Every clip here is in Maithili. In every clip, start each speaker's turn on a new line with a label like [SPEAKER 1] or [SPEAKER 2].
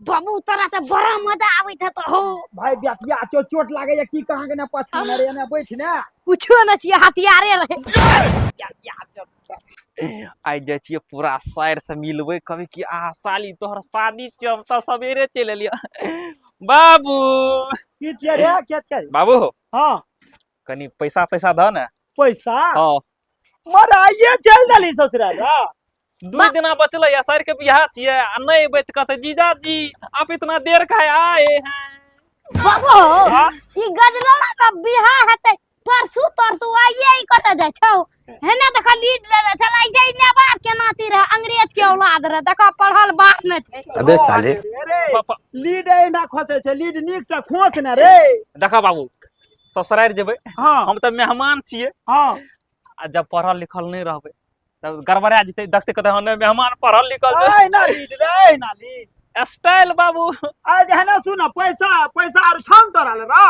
[SPEAKER 1] बाबू तोरा तऽ बड़ा मजा आबैत हेतौ हो भाय बेसिया चो चोट लागे या की कहां के ना पछा ना रे ना बैठ ना कुछो न छियै हथियारे रहे बेसिया चो आइ जाइ छियै पूरा साइर से मिलबै कभी कि आ साली तोहर शादी छियै हम तऽ सवेरे चलि एलियै बाबू की छियै रे के छियै बाबू हो हां कनी पैसा पैसा द ने पैसा हां मराइए चल दली ससुराल हां दू बा- दिना बचले या सर के बियाह छियै आ नहि अबै तऽ कहते जीजाजी आप इतना देर काहे आए हैं बाबो हाँ? ई गजला का बिहा हेतै परसू तरसू आइए ई कतऽ जाइ छौ हेने देख लीड लेने छल आइ जाइ ने बाप के नाती रहे अंग्रेज के औलाद रहे देख पढ़ल बाप में छै अबे साले पापा लीड एहिना खोसे छै लीड नीक से खोस ने रे देखा बाबू ससुरारि जेबै हँ हम तऽ मेहमान छियै हँ आ जब पढ़ल लिखल नहि रहबै तब गड़बड़ा जेतै देखते कहते हने मेहमान पढ़ल लिखल छै। ऐ ना लीड रे ऐ ना लीड स्टाइल बाबू आ जहने सुन पैसा पैसा आर छन तोरा ले रा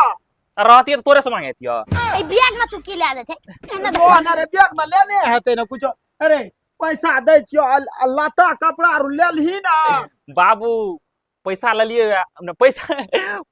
[SPEAKER 1] रहती तोरे से मांगे तिया ए बैग में तू की ले आले थे एने दे। ओ ना रे बैग में लेने हेतै ना कुछ अरे पैसा दै छियो अल- अल्लाता कपड़ा आर ले लही ना बाबू पैसा लेलियै वएह पैसा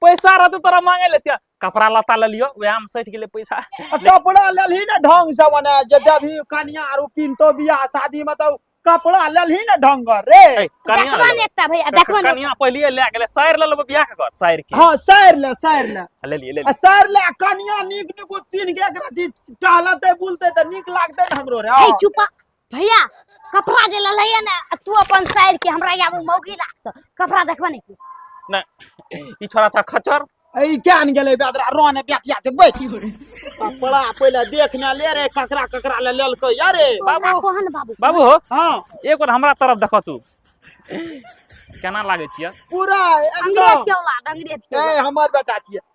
[SPEAKER 1] पैसा रहतै तोरा मांगे लेतिया कपड़ा लता लेलियो वएह में सटि गेलै पैसा कपड़ा लेलही ने ढंग से मने जे देबही कनिया आरो पिनतो बियाह शादी में तो कपड़ा लेलही ने ढंग रे कनिया एकटा भैया देखबो ने कनिया पहलिए ले गेलै साइर ले लेबो बियाह के घर साइर के हां साइर ले साइर ले ले लिए ले साइर ले कनिया नीक नीक पिन के एकरा टहलते बुलते त नीक लागते हमरो रे ए चुपा भैया कपड़ा जे लले है ना आ तू अपन साइड के हमरा यहाँ वो मौगी लागत कपड़ा देखबा नहीं तू नहीं ई छोरा था खचर ए क्या न गेले बेदरा रोने बेटिया के बैठ कपड़ा पहले देख ना ले रे ककरा ककरा ले ललको यारे बाबू। बाबू कोहन बाबू बाबू हो हां एक बार हमरा तरफ देखो तू केना लागे छियै पूरा अंग्रेज एकदम के औलाद अंग्रेज के ए औलाद। हमर बेटा छिए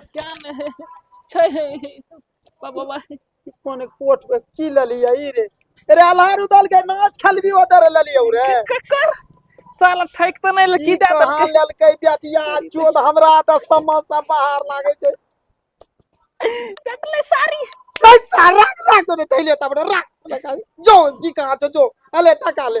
[SPEAKER 1] अज्ञान है छै है बाबा बा कोने कोट पे की ललिया ई रे अरे अल्हार उदल के नाच खलबी उधर ललिया रे के कर साला ठैक त नहीं लकी ई दे कहाँ दलके ललकै बेटिया चोद हमरा त समस्या बाहर लागे छै देखले सारी पैसा राख राख तो थैले तब राख लगा जो जी कहाँ छ जो अले टका ले